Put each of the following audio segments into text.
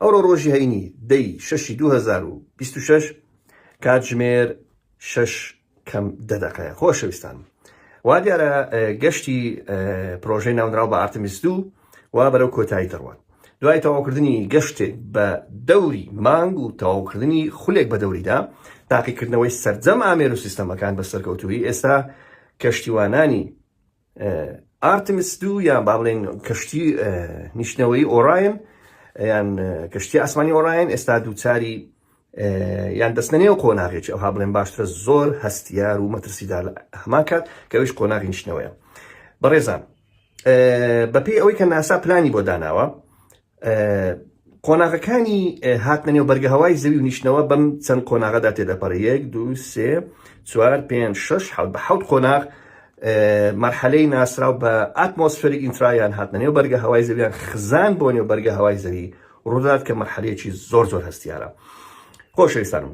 ئەوڕۆ ڕۆژی هەینی دەی شەشی دوو هەزار و بیست و شەش کاتژمێر شەش کەم دە دەقەیە خۆشەویستان وا دیارە گەشتی پرۆژەی ناونراو بە ئارتمیس دوو وا بەرەو کۆتایی دەڕوات دوای تەواوکردنی گەشتێک بە دەوری مانگ و تەواوکردنی خولێک بە دەوریدا تاقیکردنەوەی سەرجەم ئامێر و سیستەمەکان بە سەرکەوتوی ئێستا کەشتیوانانی ئارتمس دوو یان با بڵێن کەشتی نیشتنەوەی ئۆراین یان کەشتی ئاسمانی ئۆراین ئێستا دووچاری یان دەستە نێو قۆناغێکی ئەوها بڵێن باشترە زۆر هەستیار و مەترسیدا هەمان کات کەویش قۆناغی نیشتنەوەیە بەڕێزان بەپی ئەوەی کە ناسا پلانی بۆ داناوە قۆناغەکانی هاتنە نێو بەرگە هەوای زەوی و نیشتنەوە بەم چەند قۆناغەدا تێدەپەڕێ یەک دو سێ چوار پێنج شش حەوت بە حەوت قۆناغ مەرحەلەی ناسراو بە ئاتمۆسفەری ئینترایان هاتنە نێو بەرگە هەوای زەویان خزان بۆ نێو بەرگە هەوای زەوی ڕوودات کە مەرحەلەیەکی زۆر زۆر هەستیارە خۆشەویستانم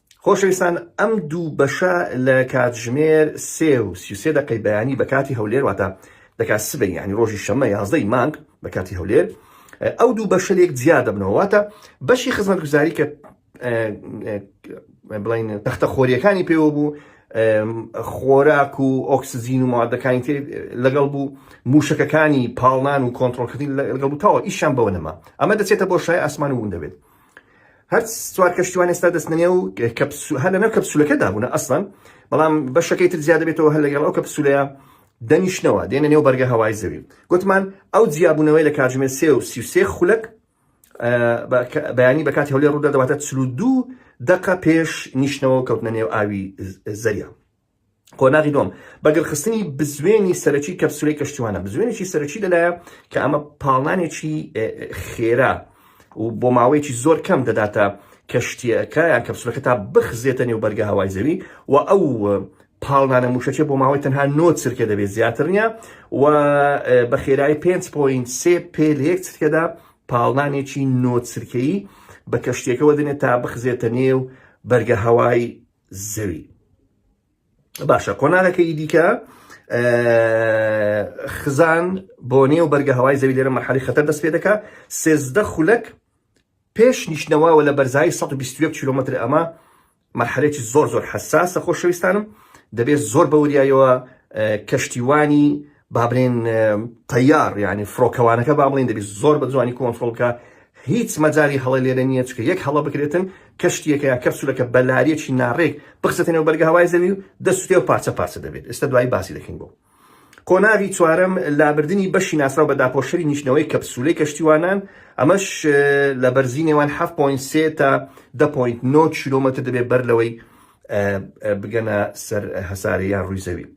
خۆشەویستان ئەم دوو بەشە لە کاتژمێر سێ و سی و سێ دەقەی بەیانی بە کاتی هەولێر واتە دەکات سبەی یعنی ڕۆژی شەممە یازدەی مانگ بە کاتی هەولێر ئەو دوو بەشە لێک جیا دەبنەوە واتە بەشی خزمەتگوزاری کە بڵین تەختە خۆریەکانی پێوە بوو خۆراک و ئۆکسزین و مادەکانی تێ لەگەڵ بوو موشەکەکانی پاڵنان و کۆنتترۆلکردین لەگەڵ بوو تاوە ئیشان بەوە نەما ئەمە دەچێتە بۆ شای ئاسمان و ون دەبێت هەر چوار کەشتیوان ئێستا دەستنێ و هەر لەنەو کەپسولەکەدا بوون ئەسڵەن بەڵام بەشەکەی تر زیاد دەبێتەوە هەر لەگەڵ ئەو کەپسولەیە دەنیشتنەوە دێنە نێو بەرگە هەوای زەوی گوتمان ئەو جیابوونەوەی لە کاتژمێر سێ و سی و سێ خولەک بەیانی بە کاتی هەولێر ڕوودا دەواتە چلو دوو دقە پێش نیشتنەوە کەوتنە نێو ئاوی زەریا قۆناغی دووەم، بەگڕخستنی بزوێنی سەرەکی کەپسولەی کەشتیوانە، بزوێنێکی سەرەکی لەلایە کە ئەمە پاڵنانێکی خێرا و بۆ ماوەیەکی زۆر کەم دەداتە کەشتیەکە یان کەپسولەکە تا بخزێتە نێو بەرگە هەوای زەوی و ئەو پاڵنانە موشەچێ بۆ ماوەی تەنها نۆ چرکە دەبێت زیاتر نیە و بە خێرایی 5.3 پێ لە یەک چرکەدا پاڵنانێکی نۆ چرکەیی بە کەشتێکەوە دێنێت تا بخزێتە نێو بەرگە هەوای زەوی باشە قۆناغەکەی دیکە خزان بۆ نێو بەرگە هەوای زەوی لێرە مەحالی خەتەر دەست پێ دەکە سێزدە خولەک پێش نیشتنەوەوە لە بەرزایی 120 کیلومتر ئەمە مەحرێکی زۆر زۆر حساسە خۆشەویستانم دەبێت زۆر بەوریایەوە کەشتیوانی با بڵێین تەیار یانی فڕۆکەوانەکە با بڵێین دەبێت زۆر بە جوانی کۆنترۆڵ بکە هیچ مەجاری هەڵە لێرە نییە چکە یەک هەڵە بکرێتن کەشتیەکە یا کەپسولەکە بەلاریەکی ناڕێک بخسەتە نێو بەرگە هەوای زەوی و دەستێ و پارچە پارچە دەبێت ئێستا دوایی باسی دەکەین بۆ قۆناغی چوارەم لابردنی بەشی ناسراو بە داپۆشەری نیشتنەوەی کەپسولەی کەشتیوانان ئەمەش لە بەرزی نێوان 7.3 تا 10.9 کیلومتر دەبێت بەر لەوەی بگەنە سەر هەسارەیان ڕووی زەوی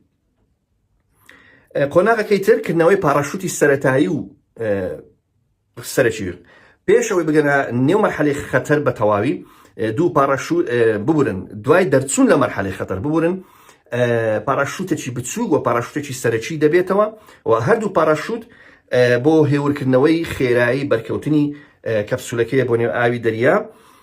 قۆناغەکەی تر کردنەوەی پاڕاشوتی سەرەتایی و سەرەکی پێش ئەوەی بگەنە نێو مەرحەلی خەتەر بە تەواوی دوو پاڕاشوت ببورن دوای دەرچوون لە مەرحەلی خەتەر ببورن پاڕاشوتێکی بچوو و پاڕاشوتێکی سەرەکی دەبێتەوە و هەردوو پاڕاشوت بۆ هێورکردنەوەی خێرایی بەرکەوتنی کەپسولەکەی بۆ نێو ئاوی دەریا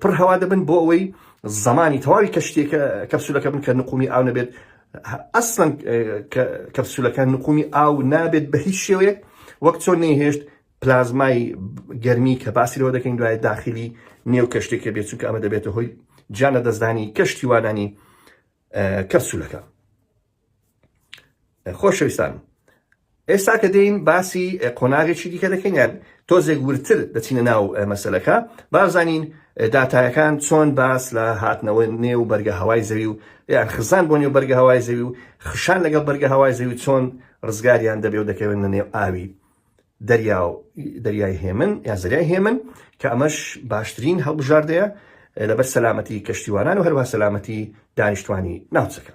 پڕ هەوا دەبن بۆ ئەوەی زمانی تەواوی کەشتێکە کەپسولەکە بن کە نقومی ئاو نەبێت ئەسڵەن کەپسولەکە نقومی ئاو نابێت بە هیچ شێوەیەک وەک چۆن نەیهێشت پلازمای گەرمی کە باسی لەوە دەکەین دوای داخلی نێو کەشتێکە بێت چونکە ئەمە دەبێتە هۆی جانە دەستدانی کەشتی وانانی کەپسولەکە خۆشەویستان ئێستا کە دێین باسی قۆناغێکی دیکە دەکەین یان تۆزێک ورتر دەچینە ناو مەسلەکە بازانین داتایەکان چۆن باس لە هاتنەوە نێو بەرگە هەوای زەوی و یان خزان بۆ نێو بەرگە هەوای زەوی و خشان لەگەڵ بەرگە هەوای زەوی چۆن ڕزگاریان دەبێ و دەکەوێن لە نێو ئاوی دەریا و دەریای هێمن یا زەریای هێمن کە ئەمەش باشترین هەڵبژاردەیە لەبەر سەلامەتی کەشتیوانان و هەروە سەلامەتی دانیشتوانی ناوچەکە